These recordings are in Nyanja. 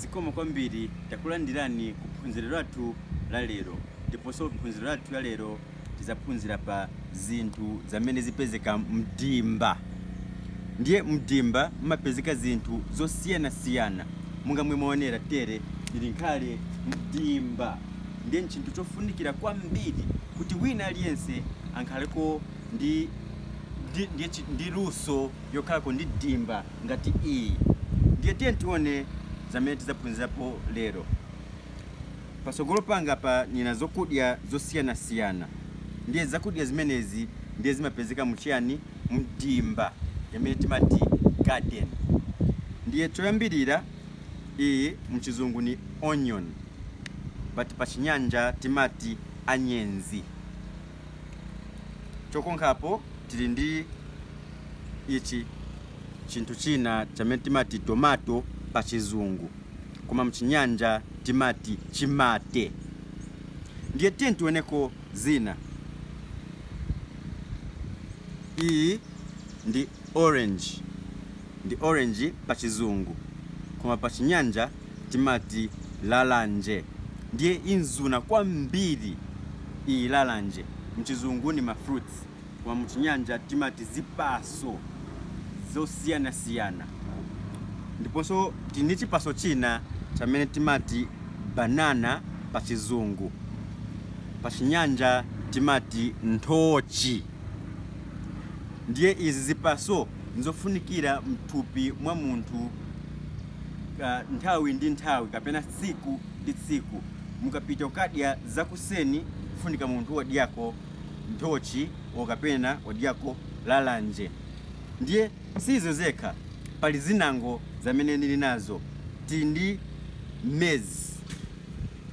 Zikomo kwambiri takulandirani ku phunziro lathu la lero ndiponso phunziro lathu la lero tidzaphunzira pa zinthu zamene zipezeka mdimba ndiye mdimba mumapezeka zinthu zosiyanasiyana monga mmene mwaonera tere tili nkale mdimba ndiye nchinthu chofunikira kwambiri kuti wina aliyense akhaleko ndi ndi, ndi, chi- ndi luso yokhalako ndi dimba ngati iyi. Ndiye tiyeni tione zamene tizaphunzirapo lero. Pasogolo panga apa nina zakudya zosiyana siyana. Ndiye zakudya zimenezi ndiye zimapezeka muchiyani? Mdimba yamene timati garden. Ndiye choyambilira iyi muchizungu ni onion but pachinyanja timati anyenzi. Chokonkhapo tili ndi ichi chinthu china chamene timati tomato pa chizungu koma mchinyanja timati chimate. Ndiye tiyeni tioneko zina. Iyi ndi orange, ndi orange pa chizungu koma pa chinyanja. timati lalanje ndiye imazuna kwambiri iyi lalanje mchizungu ni ma fruits koma muchinyanja timati zipaso zosiyanasiyana ndiponso tili ndi chipaso china chamene timati banana pa chizungu pa chinyanja timati nthochi ndiye izi zipaso nzofunikira mthupi mwa munthu nthawi ndi nthawi kapena tsiku ndi tsiku mukatha kudya zakuseni kufunika munthu wadyako nthochi o kapena wadyako lalanje ndiye sizo zekha pali zinango zamene nili nazo tili ndi maize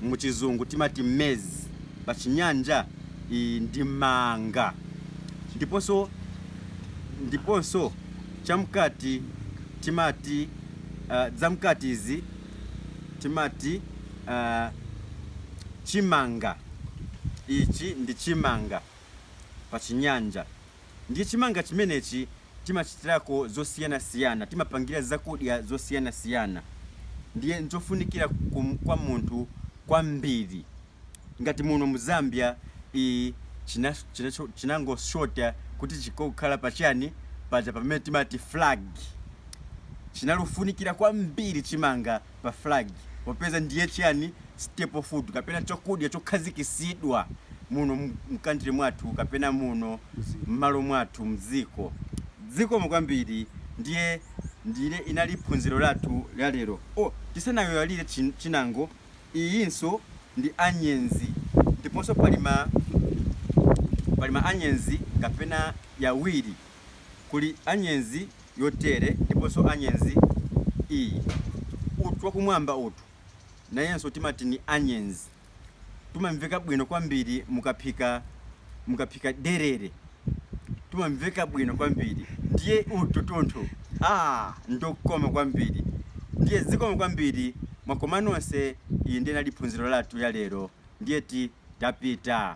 muchizungu timati maize pachinyanja iyi ndi manga ndiponso ndiponso chamkati timati uh, zamkati izi timati uh, chimanga ichi ndi chimanga pa chinyanja ndiye chimanga chimenechi timachitirako zosiyanasiyana timapangira zakudya zosiyanasiyana ndiye nchofunikira kwa munthu kwambiri ngati muno mu Zambia ii china chinacho chinangoshota kuti chikakhala pa chani paja pamene timati flag chinalufunikira kwambiri chimanga pa flag popeza ndiye chani staple food kapena chokudya chokhazikisidwa muno mu country mwathu kapena muno mmalo mwathu mdziko zikomo kwambiri ndiye ndi inali phunziro lathu la lero oh tisanayoiwalire chin chinango iyinso ndi anyezi ndiponso pali ma pali ma anyezi kapena yawiri kuli anyezi yotere ndiponso anyezi iyi utu wakumwamba utu nayenso timati ni anyezi tumamveka bwino kwambiri mukaphika mukaphika derere tumamveka bwino kwambiri ndiye utu tunthu aah ndokoma kwambiri ndiye zikomo kwambiri mwakoma nonse iyi ndiye inali phunziro lathu ya lero ndiyeti tapita.